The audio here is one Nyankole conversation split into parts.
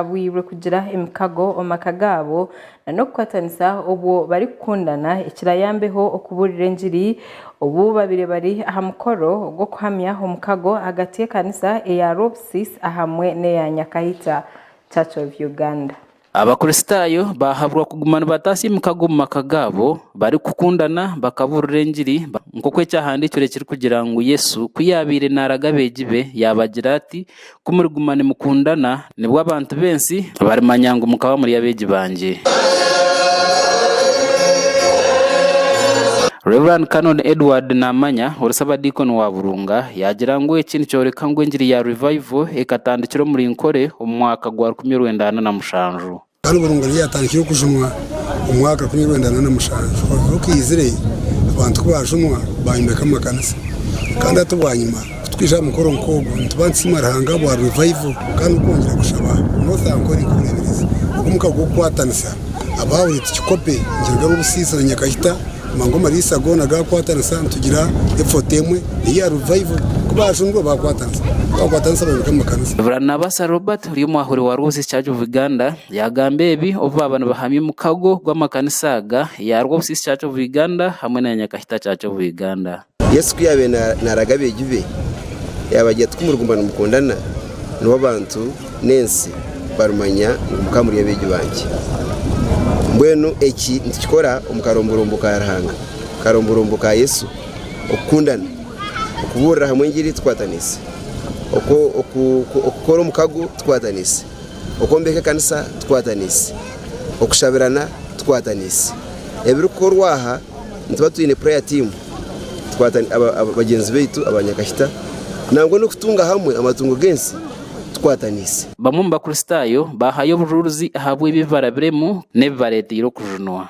batabwirwe kugira emikago omu maka gaabo na n'okukwatanisa obwo barikukundana ekirayambeho okubuurira engiri obu babire bari aha mukoro ogw'okuhamya omukago ahagati y'ekanisa eya Robsis ahamwe n'eya Nyakaita Church of Uganda. Abakristaayo baahabwa kuguma nibataasa emikago omu maka gaabo barikukundana bakabuurira engiri nk'oku ekyahandiikirwe kirikugira ngu Yesu ku yaabaire naaraga abeegi be yaabagira ati, Ku muriguma nimukundana, nibwo abantu b'ensi barimanya ngu mukaba muri abeegi bangye. Rev. Canon Edward Namanya, ori Ssabadiikoni wa Burunga, yaagira ngu eki nikyoreka ngu engiri ya Revival ekatandikira omuri Nkore omu mwaka gwa rukumi orwenda ana na mushanju. Kandi oburungo nibwo yatandikire okujumwa omu mwaka rukumi na rwenda na mushanju. Orubura okaizire, abantu ku baajumwa, baayombeka amakanisa. Kandi hati bwanyima, ku twaija aha mukoro nk'ogu, nituba nitusiima Ruhanga ahabwa Revival kandi n'okwongyera kushaba North Ankole nk'obureeberezi bw'omuka gw'okukwatanisa abaahurire tukikope nikiruga Rw'obusiisa na Nyakashita mba ngu amariisa goona gaakwatanisa nitugira effort emwe eya Revival. Ku baajumirwe baakwatanisa, ku baakwatanisa bayombeka amakanisa. Baranabasa Robert. ori omwahuri wa Roses Church of Uganda yaagamba ebi obu baaba nibahamya omukago gw'amakanisa aga eya Roses Church of Uganda hamwe na Nyakahita Church of Uganda. Yesu ku yaabaire naaraga abeegi be, yaabagira ati, Ku muriguma nimukundana, nibwo abantu n'ensi barimanya ngu mukaba muri abeegi bangye. Mbwenu eki nitukikora omu karomborombo ka Ruhanga, akaromborombo ka Yesu, okukundana. Okubuurira hamwe engiri tukwatanise, okukora omukago tukwatanise, okwombeka ekanisa tukwatanise, okushabirana tukwatanise. Ebirikukorwa aha nituba twine prayer team bagyenzi baitu aba Nyakashita nangwa n'okutunga hamwe amatungo g'ensi tukwatanise. Bamwe omu Bakristaayo baahayo obujuurizi ahabw'ebi ebi barabiremu n'ebibareeteire okujunwa.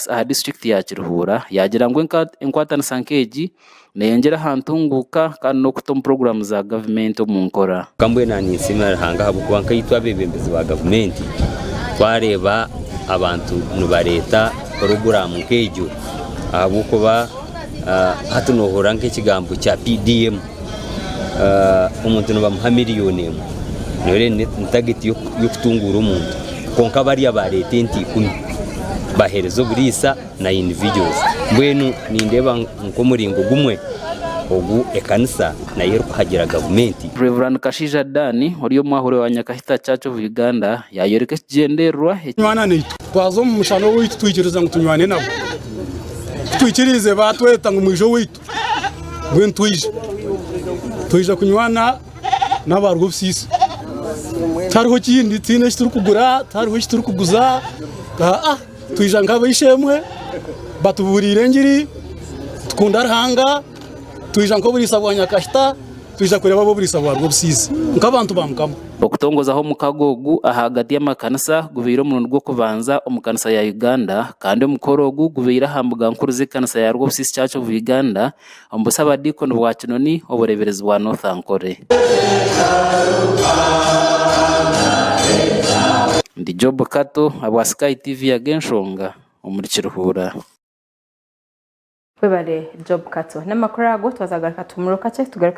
Poliisi aha district ya Kiruhura yagira ngu enkwatanisa nk'egi neyongyera aha ntunguuka kandi n'okuta omu puroguramu za gavumenti omu nkora. Kwonka mbwenu ninsiimira Ruhanga ahabw'okuba nkaitwe abeebembezi ba gavumenti twareeba abantu nibareeta puroguramu nk'egyo ahabw'okuba hati noohurira nk'ekigambo kya PDM. omuntu nibamuha miriyoni emwe nayo reero ni tageti y'okutunguura omuntu kwonka bariya bareeta ente ikumi bahereza oburiisa na individuals mbwenu nindeeba nk'omuringo gumwe ogu ekanisa nayo erikuhagira gavumenti. Rev. Kashaija Dan ori omwahuure wa Nyakahita Church of Uganda yayoreka ekigyendererwa eki. Nywana naitu. Twaza omu mushana owaitu twikiriza ngu tunywane nabo. Ku twikiriize baatweta ngu mwije owaitu. mbwenu twaija twaija kunywana n'abaarwo obusiisi tihariho kindi tihaine eki turikugura tihariho eki turikuguza aa twaija nk'ab'eishe-emwe batubuuriire engiri tukunda Ruhanga twaija nk'oburiisa bwa Nyakashita. Twija kureeba ab'oburiisa bwarwo obusiisi nk'abantu ba Mukama. Okutongozaho omukago ogu ahagati y'amakanisa gubaire omurundi gw'okubanza omu kanisa ya Uganda kandi omukoro ogu gubaire aha mbuga nkuru z'ekanisa ya Rwobusiisi Church of Uganda omu busabadiikoni bwa Kinoni obureeberezi bwa North Ankole. Ndi Job Kato abwa Sky TV yaga enshonga omuri Kiruhura. Webale Job Kato namakuru ago twazagaruka tuhuumurwe kakye tugaruke.